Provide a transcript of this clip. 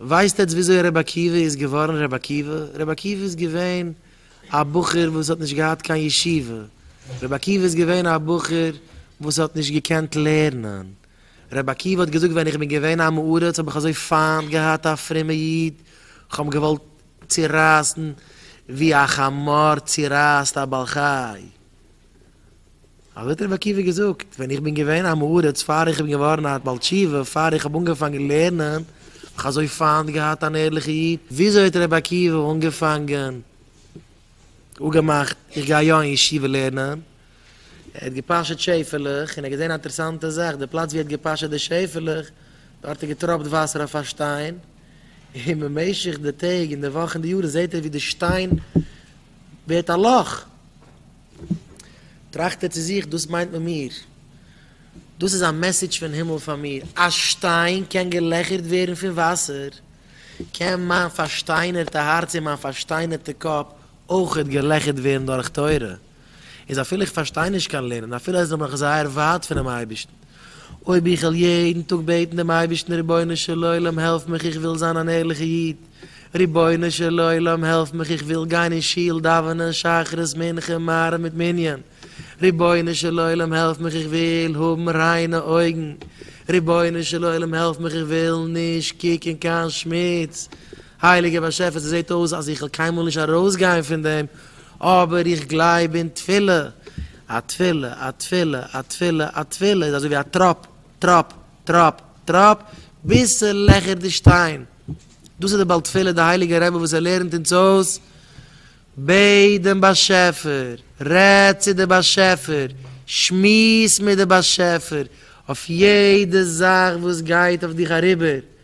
ווייסט עטץ וויאזוי ר' עקיבא איז געווארן ר' עקיבא? ר' עקיבא איז געווען א בחור וואס האט נישט געהאט קיין ישיבה, ר' עקיבא איז געווען א בחור וואס האט נישט געקענט לערנען, ר' עקיבא האט געזאגט ווען איך בין געווען עם הארץ האב איך אזוי פיינט געהאט א פרומע איד, איך האב עם געוואלט צורייסן ווי א חמור צורייסט א בעל חי. אזוי האט רבי עקיבא געזאגט, ווען איך בין געווען א מעריץ פאר איך בין געווארן א בעל תשובה, פאר איך האב אנגעפאנגען לערנען, האב איך אזוי פיינט געהאט אן ערליכע איד, וויאזוי האט רבי עקיבא אנגעפאנגען, אפגעמאכט, איך גיי יא אין ישיבה לערנען, ער האט געפאשעט שעפעלעך, און ער האט געזען א אינטערעסאנטע זאך, די פלאץ ווי ער האט געפאשעט די שעפעלעך, דארט האט געטראפט וואסער אויף א שטיין, און במשך די טעג און די וואכן און די יארן זעט ער ווי די שטיין ווערט א לאך, טראכט ער צו זיך, דאס מיינט מען מיר. דאס איז א מעסעדזש פון הימל פאר מיר. א שטיין קען געלעכערט ווערן פון וואסער, קען מיין פארשטיינערטע הארץ און מיין פארשטיינערטע קאפ אויכעט געלעכערט ווערן דורך תורה. איז אפילו איך פארשטיי נישט קיין לערנען, אפילו אז איך בין נאך זייער ווייט פונעם אייבערשטן, אויב איך וועל יעדן טאג בעטן דעם אייבערשטן רבונו של עולם העלף מיך איך וויל זיין אן ערליכע איד, רבונו של עולם העלף מיך איך וויל גיין אין שול דאווענען שחרית מנחה מעריב מיט מנין, רבונו של עולם העלף מיך איך וויל האבן ריינע אויגן, רבונו של עולם העלף מיך איך וויל נישט קוקן קיין שמוץ, הייליגער באשעפער ס'זעט אויס אז איך וועל קיינמאל נישט ארויסגיין פון דעם, אבער איך גלייב אין תפילה, א תפילה, א תפילה, א תפילה, א תפילה איז אזוי ווי א טראפ, טראפ, טראפ, טראפ, ביז ס'לעכערט די שטיין, דאס איז די בעל תפילה די הייליגער רבי וואס ער לערנט אונז אויס, בעט דעם באשעפער, רעד צו די באשעפער, שמועס מיט די באשעפער, אויף יעדע זאך וואס גייט אויף דיך אריבער,